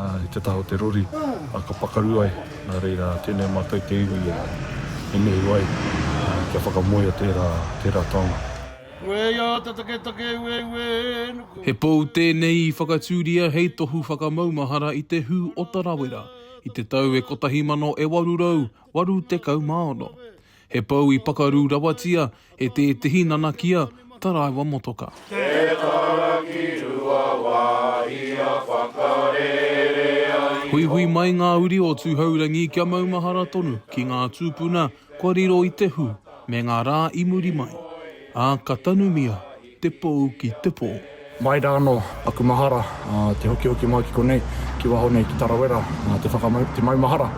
I te taha o te rori, ka pakaru ai, nā reira, tēnei mātou te iwi e nehu ai kia whakamoea tērā taonga. Ueia te taketake ueuē nuku. He pou tēnei i whakatūria hei tohu whakamaumahara i te hū o Tarawera i te tau e kotahi mano e waru rau waru tekau mā ono. He pou i pakaru rawatia e tētehi nanakia taraiwa motoka. Te tara ki rua wā ia whakarere ai. Huihui mai ngā uri o Tūhourangi kia maumahara tonu ki ngā tūpuna kua riro i te hū me ngā rā i muri mai, ā, ka tanumia Te pou ki te po. Mai rā anō aku mahara, te hokihoki mai ki konei, ki waho nei ki Tarawera, te whakamau, te maumahara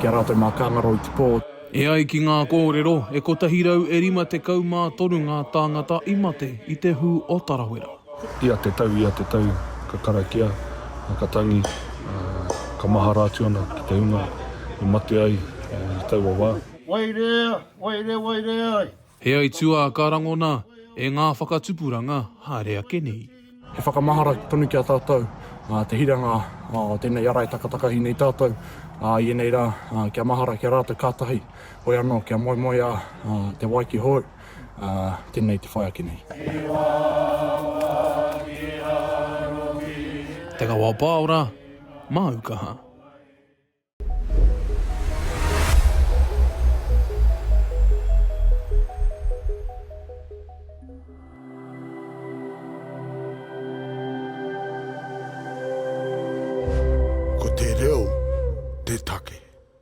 ki a rātou mā ka ngaro i te pō. E ai ki ngā kōrero, e kotahi rau e rima tekau mā toru ngā tāngata i mate i te hū o Tarawera. Ia te tau, ia te tau ka karakia, ka tangi, ka mahara atu ana ki te hunga i mate ai i taua wā. Waerea, waerea, waerea ai. He aituā ka rangona e ngā whakatupuranga haere ake nei. He whakamahara tonu ki a tātou te hiranga o tēnei ara e takatakahi nei tātou i ēnei rā, kia mahara ki a rātou kātahi, hoi anō kia moemoeā te wai ki hou, tēnei te whai ake nei. Te Kawa Paora, Māu Kaha. Ko te reo te take.